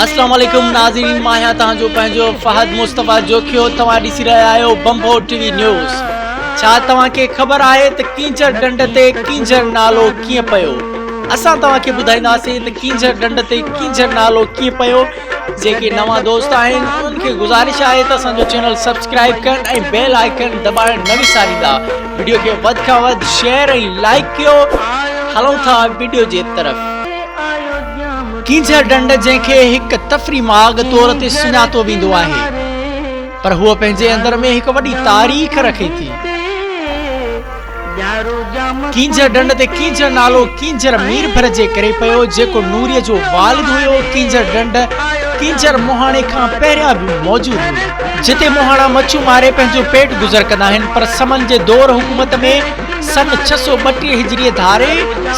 اسلام عليڪم ناظرين مان آهيان توهان جو پنهنجو فهد مصطفيٰ جوکيو توهان ڏسي رهيا آهيو بمبو ٽي وي نيوز ڇا توهان کي خبر آهي ته ڪينجهر ڊنڊ تي ڪينجهر نالو ڪيئن پيو اسان توهان کي ٻڌائينداسين ته ڪينجهر ڊنڊ تي ڪينجهر نالو ڪيئن پيو جيڪي نوان دوست آهن انهن کي گذارش آهي ته اسان جو چينل سبسڪرائب ڪن ۽ بيل آئيڪن دٻائڻ نه وساريندا ويڊيو کي وڌ کان وڌ شيئر ۽ لائڪ ڪيو هلون ٿا ويڊيو جي طرف ڪينجهر ڍنڍ جنهن کي هڪ تفري ماڳ طور تي سڃاتو ويندو آهي پر هوء پنهنجي اندر ۾ هڪ وڏي تاريخ رکي ٿي ڪينجهر ڍنڍ تي ڪينجهر نالو ڪينجهر مير ڀر جي ڪري پيو جيڪو نوري جو والد هيو ڪينجهر ڍنڍ ڪينجهر موهاڻي کان پهريان به موجود هئي جتي موهاڻا مڇيون ماري پنهنجو پيٽ گذر ڪندا آهن پر سمن جي دور حڪومت ۾ سن ڇهه سؤ ٻٽيهه هجريء ڌاري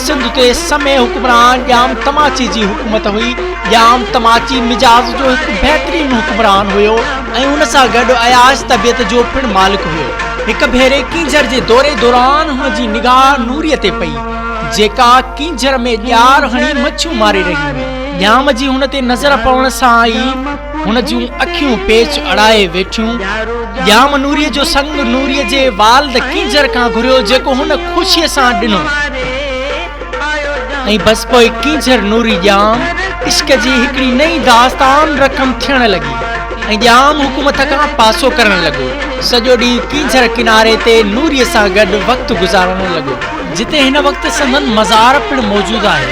سنڌ تي سمي حڪمران ڄام تماچي جي حڪومت هئي. ڄام تماچي مزاج جو هڪ بهترين حڪمران هيو ۽ ان سان گڏ عياش طبيعت جو پڻ مالڪ هيو. هڪ ڀيري ڪينجهر جي دوري دوران هن جي نگاهه نوريء تي پئي، جيڪا ڪينجهر ۾ ڄار هڻي مڇيون ماري رهي هئي. ڄام جي هن تي نظر پوڻ سان ئي هن جون اکيون پيچ اڙائي ويٺيون. ڄام نوريء جو سڱ نوريء جي والد ڪينجهر کان گهريو، جيڪو هن خوشيء سان ڏنو. ۽ بس پوء ڪينجهر نوري ڄام عشق جي هڪڙي نئين داستان رقم ٿيڻ لڳي ۽ ڄام حڪومت کان پاسو ڪرڻ لڳو. سڄو ڏينهن ڪينجهر ڪناري تي نوريء سان گڏ وقت گذارڻ لڳو. جتي هن وقت سندن مزار پڻ موجود آهي.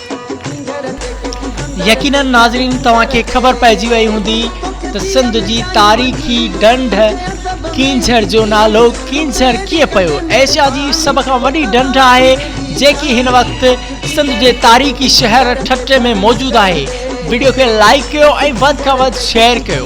يقينن ناظرين توهان کي خبر پئجي وئي هوندي ته سنڌ جي تاريخي ڍنڍ ڪينجهر جو نالو ڪينجهر ڪيئن پيو ايشيا جي سڀ کان وڏي ڍنڍ آهي جيڪي هن وقت سنڌ جي تاريخي شهر ٺٽي ۾ موجود آهي وڊيو کي لائيڪ ڪيو ۽ وڌ کان وڌ شيئر ڪيو